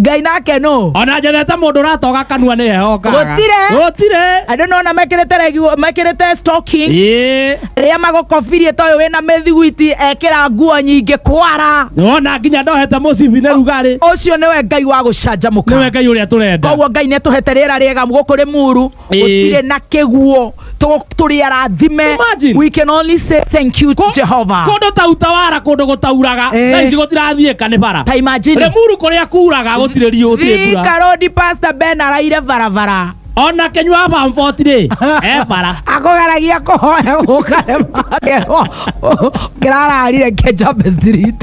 ngai nake nũ ona njethete mũndũ ũratoga kanua nĩ ehokaga Gũtirĩ. gũtirĩ andũ nona mekĩrĩte reguo mekĩrĩte stocking ĩĩ rĩa magũkobirie toyũ wĩna mĩthiguiti ekĩra nguo nyingĩ kwara ona nginya ndohete mũcibi nĩ rugarĩ ũcio nĩwe ngai wa nĩwe gũcanjamũka ngai ũrĩa tũrenda koguo ngai nĩtũhete rĩera rĩega gũkũ rĩ muru gũtirĩ na kĩguo tũ- tũrĩ arathime Imagine. we can only say thank you Kũ- Jehovah kũndũ ta utawara kũndũ gũtauraga Eh. thaa ici gũtirathiĩka nĩ bara ta imagine remuru kũrĩa kuraga gũtirĩ riũ gũtirĩ mbura Thika road pastor Ben araire barabara ona kenywa bamfoti rĩ e bara akũgeragia kũhoya gũkarema ngĩrararire kenjambe street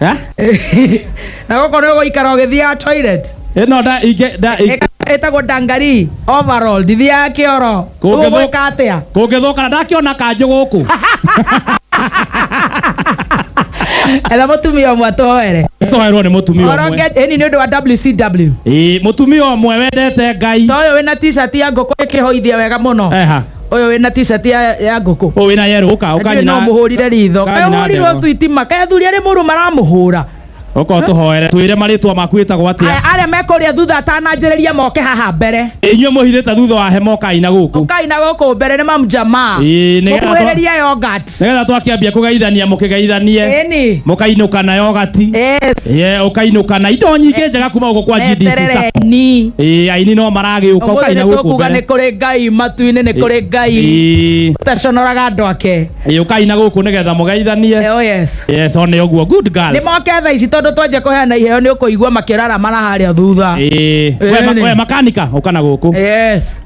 Eh? na gå korwo gå ikara å gä thiaga toilet Ĩno nda ingĩ nda ingĩ. Ĩka- ĩtagwo dangari overall ndithiaga kä oro Kũngĩthũ- gå ka atä a Kũngĩthũkana ndakĩona kanjũ gũkũ. etha må tumia å mwe twoere Twaherwo nĩ mũtumia ũmwe. oronge ĩni nä å ndå wa wcw Ĩĩ, mũtumia ũmwe wendete Ngai. ta å yå wä na t-shirt ya ngå kå ä kä hoithia wega må no Eha. Ũyũ wĩna t-shirt ya ya ngũkũ. Ũyũ wĩna yerũ ũka Ndirĩ ũkanyina. no mũhũrire ritho. ũkanyina Kaĩ ũhũrirwo ndegwa. cuitima. Kaĩ athuri arĩ mũrũ maramũhũra. Ũka ũtũhoere. Twĩre marĩtwa maku wĩtagwo atĩa. Aya arĩa me kũrĩa thutha atananjĩrĩria moke haha mbere. Inyuĩ mũhithĩte thutha wa hema ũkai na gũkũ. Ũkai na gũkũ mbere nĩ mamu Jamaa. Ĩĩ, nĩgetha twa- Mũkuhĩrĩrie yogurt. nĩgetha twakĩambia kũgeithania mũkĩgeithanie Ĩni. mũkainũka nayo gati Yes. ye ũkainũka na indo nyingĩ njega kuma gũkũ kwa GDC Sacco. Eterereni. Ĩĩ, aini no maragĩũka Ũmũthĩ ũkaina gũkũ nĩtũkuga nĩ mbere kũrĩ Ngai matu-inĩ nĩ kũrĩ Ngai. Ĩĩ, Ũtaconoraga andũ ake. ĩĩ, ũkaina gũkũ nĩgetha mũgeithanie Oh yes. yes one ũguo good Nĩ girls moke thaa ici tondũ twanjia kũheana iheo nĩ ũkũigua makĩrara mara harĩa thutha. Ĩĩ, we ma- Ĩni. we makanika ũkana gũkũ Yes.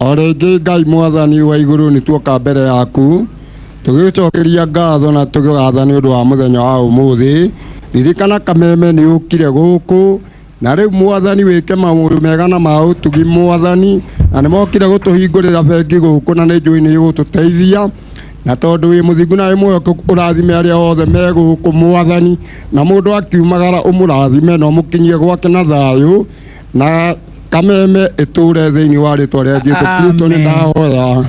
O rĩngĩ Ngai Mwathani wa igũrũ nĩ tuoka mbere yaku tũgĩgũcokeria ngatho na tũgĩgatha nĩ ũndũ wa mũthenya wa ũmũthĩ. Ririkana kameme nĩ ũkire gũkũ na rĩu Mwathani wĩke maũndũ mega na ma ũtugi Mwathani, na nĩ mokire gũtũhingũrĩra bengi gũkũ na nĩ njũĩ nĩ ũgũtũteithia na tondũ wĩ mũthingu na wĩ mwĩhokeku ũrathime arĩa othe me gũkũ Mwathani, na mũndũ akiumagara ũmũrathime na ũmũkinyie gwake na thayũ. na kameme ĩtũre thĩinĩ wa rĩtwa rĩa jesu kristo nĩ Amen. ndahoya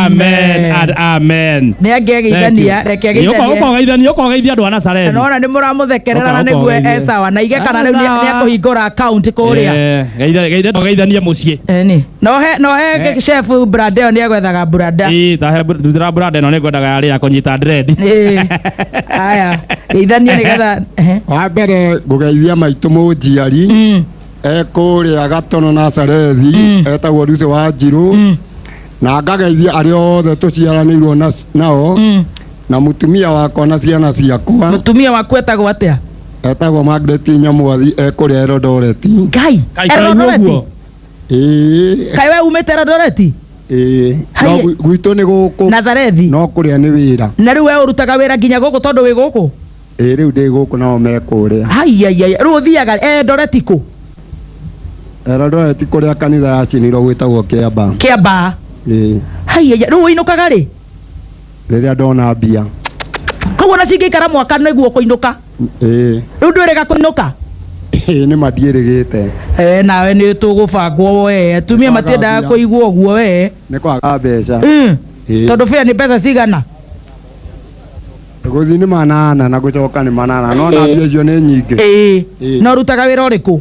amen and amen nä angegeithania reke geithanie ũkogeithania ũkogeithia andå a nacareni nona nä må ramå thekerera na Ũka- nä guo ũkogeithie. ecawa na igä kana rä u nä Esawa. akå hingå ra akaunti kå rä a geithe tũgeithanie må ciĩ Eni. No he no he Eh. chef brand ĩyo nĩ egwethaga branda. Ĩĩ, ta he- ndutĩra brand ĩno nĩ ngwendaga yarĩ ya kũnyita drendi. Ĩĩ. Aya, geithania nĩgetha Ehe. wa mbere ngũgeithia maitũ mũnjiari Mm. e kũrĩa gatono na sarethi Mm. etagwo ruce wa njirũ Mm. na ngageithia arĩa othe tũciaranĩirwo na- nao Mm. na mũtumia wakwa na ciana ciakwa mutumia waku etagwo atia etagwo Margaret Nyamwathi e kũrĩa Elodoreti ngai Kai kai Eldoret. ũguo. ĩĩ kai we umite rodoreti ĩĩ Hai- no gwi- gwitũ nĩ gũkũ nazarethi no kũrĩa nĩ wĩra na rĩu we ũrutaga wĩra nginya gũkũ tondũ wĩ gũkũ Ĩĩ rĩu ndĩ gũkũ nao me kũrĩa. Aiaiai, rĩu ũthiaga Eldoreti kũ? Eldoreti kũrĩa kanitha yacinirwo gwĩtagwo Kĩambaa. Kĩambaa. Ĩĩ. Aiaiai, rĩu ũinũkaga rĩ? Rĩrĩa ndona mbia. Koguo ona cingĩikara mwaka nĩguo ũkũinũka? Ĩĩ. Rĩu ndwĩrĩga kũinũka? Ĩĩ nĩma ndiĩrĩgĩte. Ee nawe nĩtũgũbangwo wee, atumia matiendaga kũigua ũguo wee. Nĩ kwaga mbeca. Ĩĩ. Tondũ fare nĩ mbeca cigana? gũthiĩ nĩ manana na gũcoka nĩ manana no na mbia icio nĩ nyingĩ ĩĩ Ĩĩ. na ũrutaga wĩra ũrĩkũ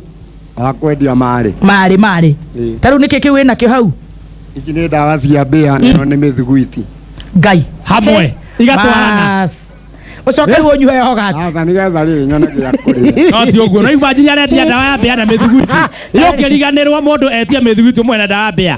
wa kwendia marĩ marĩ marĩ Ĩĩ. ta rĩu nĩkĩ kĩu wĩ nakĩo hau ici nĩ ndawa cia mbĩa na ĩno nĩ mĩthiguiti ngai Hamwe. Igatwarana. Bas. ũcoke rĩu ũnyuhe yogati aca nĩgetha rĩrĩ nyone gĩa kũrĩa no ti ũguo no imagine arendia ndawa ya mbĩa na mĩthuguiti yũkĩriganĩrwo mũndũ etia mĩthuguiti ũmwe na ndawa ya mbĩa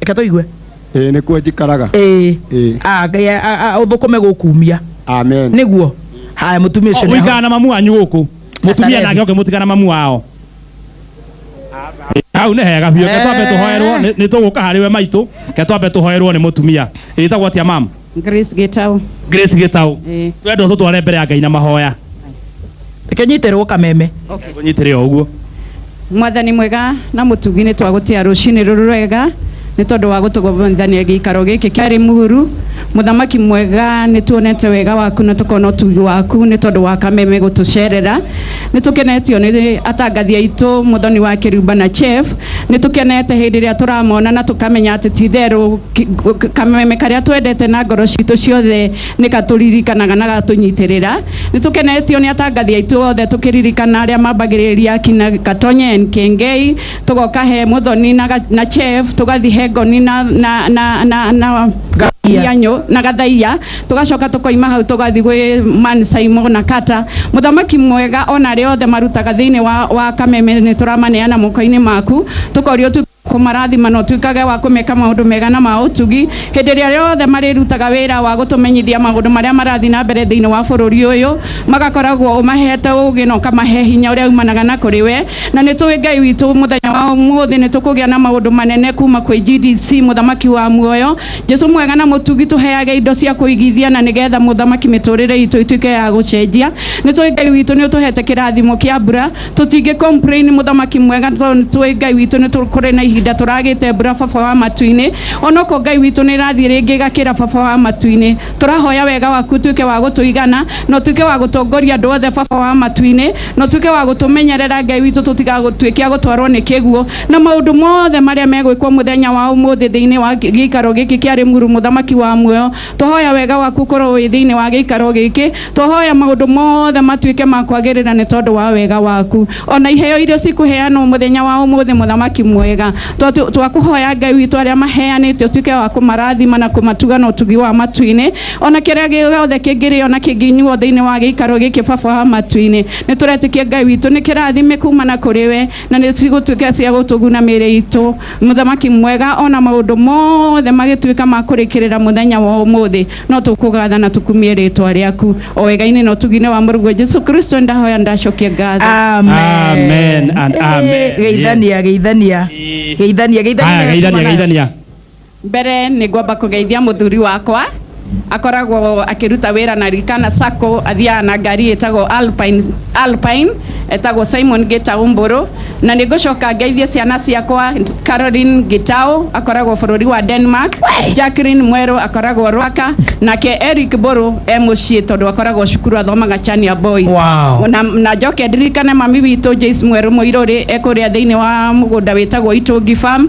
reke tũigue ĩĩ nĩkuo njikaraga ĩĩ ĩĩ Ah, ngai a- a- a- ũthũkũme gũkumia amen nĩguo haya mũtumia ũcio nĩ mũikara aho. na mamu wanyu gũkũ mũtumia Nasarethi. nake oke mũtikara na mamu wao hau nĩ hega biũ ke twambe tũhoerwo nĩ tũgũka harĩ we maitũ ke twambe tũhoerwo nĩ mũtumia ĩtagwo atia mamu Grace Gitau. grace gitau Eh. twenda ũtũtware mbere ya ngai na mahoya reke nyitĩrwo kameme Okay. ũnyitĩre o ũguo mwathani mwega na mũtugi nĩ twagũtia rũcinĩ rũrũ rwega nĩ tondũ wa gũtũgomithania gĩikaro gĩkĩ kĩarĩ mũhuru mũthamaki mwega nĩ tuonete wega waku na tũkona ũtugi waku nĩ tondũ wa kameme gũtũcerera Nĩ tũkenetio nĩ atangathi aitũ, Mũthoni wa Kĩrumba na Chef. Nĩ tũkenete hĩndĩ ĩrĩa tũramona na tũkamenya atĩ ti itherũ kameme karĩa twendete na ngoro citũ ciothe nĩ gatũririkanaga na gatũnyitĩrĩra. Nĩ tũkenetio nĩ atangathi aitũ othe tũkĩririkana arĩa mambagĩrĩria akina Gatonyen, Kĩengei, tũgoka he Mũthoni na Chef, tũgathi he Ngoni na Gathaiya. Tũgacoka tũkoima hau tũgathi gwĩ man Saimo na Kata. Mũthamaki mwega ona arĩa othe marutaga thĩinĩ wa wa kameme nĩtũramaneana mokoinĩ maku. Tũkoria ũtuĩke wa kũmarathima na ũtuĩkage wa kũmeka maũndũ mega na ma ũtugi hĩndĩ ĩrĩa yothe marĩrutaga wĩra wa gũtũmenyithia maũndũ marĩa marathiĩ na mbere thĩinĩ wa bũrũri ũyũ. Magakoragwo ũmahete ũũgĩ na ũkamahe hinya ũrĩa umanaga na kũrĩ we. Na nĩtũĩ Ngai witũ mũthenya wa ũmũthĩ nĩtũkũgĩa na maũndũ manene kuma kwĩ GDC mũthamaki wa muoyo. Jesu mwega na mũtugi tũheage indo cia kũigithia na nĩgetha mũthamaki mĩtũrĩre itũ ĩtuĩke ya gũcenjia. Nĩ tũĩ Ngai witũ nĩ ũtũhete kĩrathimo kĩa mbura. Tũtingĩ complain mũthamaki mwega tondũ nĩ tũĩ Ngai witũ nĩ tũ, kũrĩ na ihinda tũragĩte mbura baba wa matu-inĩ. Onoko Ngai witũ nĩ ĩrathiĩ rĩngĩ ĩgakĩra baba wa matu-inĩ. Tũrahoya wega waku ũtuĩke wa gũtũigana na ũtuĩke wa gũtongoria andũ othe baba wa matu-inĩ. Na ũtuĩke wa gũtũmenyerera Ngai witũ tũtigagũtuĩke agũtwarwo nĩ kĩguo. Na maũndũ mothe marĩa megwĩkwo mũthenya wa ũmũthĩ thĩinĩ wa gĩikaro gĩkĩ kĩa Rĩmuru mũthamaki wa muoyo, twahoya wega waku ũkorwo wĩ thĩinĩ wa gĩikaro gĩkĩ. Twahoya maũndũ mothe matuĩke ma kwagĩrĩra nĩ tondũ wa wega waku. O na iheo iria cikũheanwo mũthenya wa ũmũthĩ mũthamaki mwega, twakũhoya Ngai witũ arĩa maheanĩte ũtuĩke wa kũmarathima na kũmatuga na ũtugi wa matu-inĩ. O na kĩrĩa gĩothe kĩngĩrĩo na kĩngĩnyuo thĩinĩ wa gĩikaro gĩkĩ baba wa matu-inĩ, nĩ tũretĩkia Ngai witũ nĩ kĩrathime kuuma na kũrĩ we. na nĩ cigũtuĩka cia gũtũguna mĩĩrĩ itũ, Mũthamaki mwega, o na maũndũ mothe magĩtuĩka ma kũrĩkĩrĩra mũthenya wa ũmũthĩ, no tũkũgaatha na tũkumie rĩĩtwa rĩaku. O wega-inĩ na ũtugi-inĩ wa Mũrũguo Jesu Kristo nĩndahoya na ndacokia ngatho. Amen and amen. Geithania, geithania, geithania, geithania. Haya, geithania, geithania. Mbere nĩ ngwamba kũgeithia mũthuri wakwa, akoragwo akĩruta wĩra na Rikana Sacco, athiaga na ngari ĩtagwo Alpine, Alpine etagwo Simon Gĩtaũ Mbũrũ, na nĩ ngũcoka ngeithie ciana ciakwa, Caroline Gĩtaũ akoragwo bũrũri wa Denmark, Jacqueline Mwerũ akoragwo Rwaka, nake Eric Mbũrũ e mũciĩ tondũ akoragwo cukuru athomaga Chania Boys. Wow. Na, na njoke ndirikane mami witũ Joyce Mwerũ Mũirũrĩ e kũrĩa thĩinĩ wa mũgũnda wĩtagwo Itũngi Farm,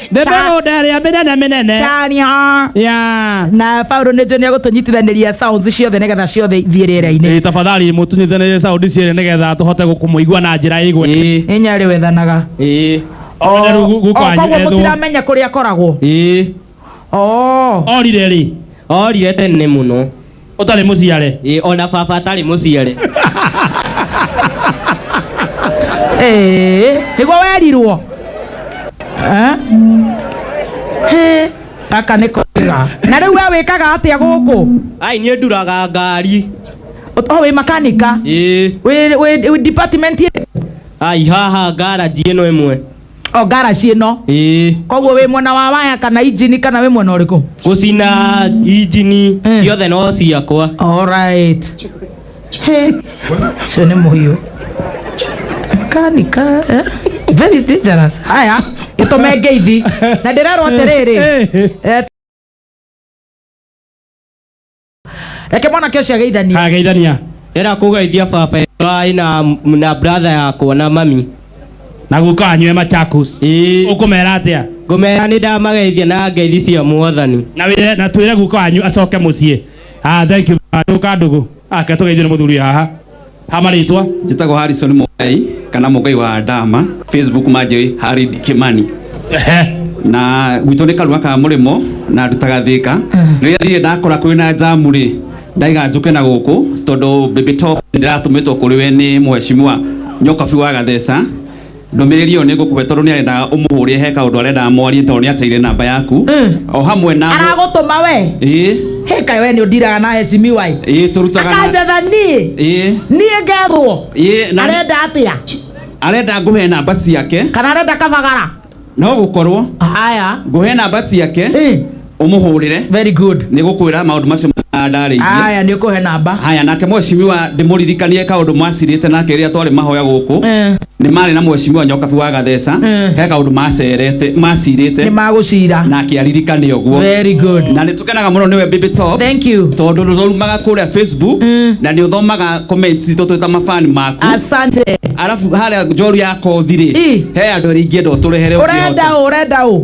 nĩ Cha- mĩgũnda ĩrĩa mĩnene mĩnene Chania. ya na Paulo nĩ njũĩ nĩ egũtũnyitithanĩria sounds ciothe nĩgetha ciothe ithiĩ rĩera-inĩ Ĩ, tafadhali mũtunyithanĩrie saundi cierĩ nĩgetha tũhote gũkũmũigua na njĩra ĩgwe ĩĩ nĩ nyarĩ wethanaga ĩĩ Oya rĩu gu- guka wanyu koguo ethwo. mũtiramenya kũrĩa akoragwo ĩĩ Oh. orire rĩ orire tene mũno ũtarĩ mũciare Ĩ, ona baba atarĩ mũciare Ee, nĩguo werirwo Eh? Hĩ, gaka nĩ kega na rĩu we wĩkaga atĩa gũkũ ai niĩ nduraga ngari Ũ- o wĩ makanika Ĩ, Wĩ- wĩ- wĩ department ĩrĩkũ? ai haha ngaraji ĩno ĩmwe o ngaraci ĩno ĩĩ koguo wĩ mwena wa waya kana injini kana wĩ mwena ũrĩkũ gũcina injini Mm. ciothe no ciakwa Alright. Hey. Sio ni muhiu. Kani ka. eh? Very dangerous. Haya, gĩtũme ngeithi. Na ndĩrerwo atĩrĩrĩ. Eh, reke mwana kesi ageithania ageithania era kugeithia baba wai na na brother yakwa na mami na guka anyue machakus ii ukumera atia ngumera nĩ ndamageithia na ngeithi cia mwathani na wire na twire guka anyu acoke mucii ah thank you nduka ndugu ake tugeithio ni muthuri haha hamarĩtwa njĩtagwo harrison mũgai kana mũgai wa ndama facebook manjĩ harid kimani na gwitũ nĩ karua ka mũrĩmo na ndutaga thĩka rĩrĩa thire ndakora kwĩ na njamu rĩ ndaiga njũke na gũkũ tondũ baby top ndĩratũmĩtwo kũrĩ we nĩ mheshimiwa nyokabi wa gatheca ndũmĩrĩri ĩyo nĩ ngũkũhe tondũ nĩ arendaga ũmũhũrĩe he kaũndũ arendaga mwarie tondũ nĩ ateire namba yaku Mm. o hamwe na aragũtũma we ĩĩ hä kaä we nä å ndiraga na hecimiwai ĩĩ tũrutaga na akanjetha niä ĩĩ niä ngethwo ĩĩ na arenda atä a arenda ngũhe namba ciake kana arenda kabagara no gũkorwo haya ngũhe namba ciake Ĩ. ũmũhũrĩre Very good. nĩ gũkwĩra maũndũ macio ma ndarĩirie Aya nĩ ũkũhe namba. haya nake mwecimiwa ndĩmũririkanie kaũndũ mwacirĩte nake rĩrĩa twarĩ mahoya gũkũ Eh. nĩ marĩ na mwecimiwa nyokabi wa gatheca Eh. he kaũndũ macerete Nĩ macirĩte magũcira. nake aririkane ũguo Very good. na nĩ tũkenaga mũno nĩwe baby top Thank you. tondũ nĩ ũrumaga kũrĩa facebook Mm. na nĩ ũthomaga comments citũ twĩ ta mabani maku Asante. arabu harĩa njoru ya kothi rĩ Ĩ. he andũ arĩa ingĩenda ũtũrehere Ũrenda ũkĩhota. ũ? Ũrenda ũ?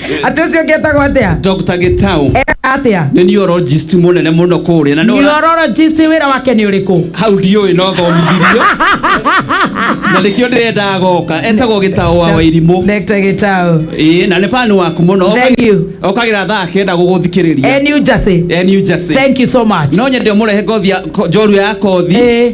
atĩ ũcio ũngĩ etagwo atĩa dr gitau ekaga atĩa nĩ neurologist mũnene mũno kũrĩa na nĩ ũra- neurologist wĩra wake nĩ ũrĩkũ hau ndiũĩ no thomithirio na nĩkĩo ndĩrendaga goka etagwo gĩtaũ wa wairimũ Dr. Gitau ĩĩ na nĩ bani waku mũno Thank you. okagĩra thaa kenda gũgũthikĩrĩria e New Jersey Eh, New Jersey. thank you so much no nyende ũmũrehe ngothi ya- ko- njorua ya kothi Eh.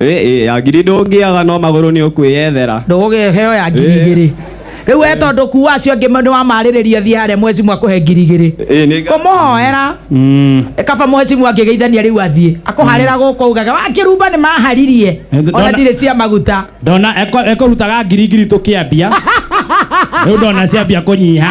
Ĩ, ĩ, ya ngiri ndũngĩaga no magũrũ nĩ ũkwĩyethera ndũgũgĩheo ya ngiri Eh. igĩrĩ rĩu we tondũ kuwa acio angĩ nĩ wamarĩrĩria thiĩ harĩa mwecimu akũhe ngiri igĩrĩ Ĩ, nĩ nga- kũmũhoera Mm. kaba mwecimu angĩgeithania rĩu athiĩ akũharĩra gũkũ ugaga wakĩrumba nĩ maharirie ona Ndona- ndirĩ cia maguta ndona ekũrutaga ngiri ngiri tũkĩambia rĩu ndona ciambia kũnyiha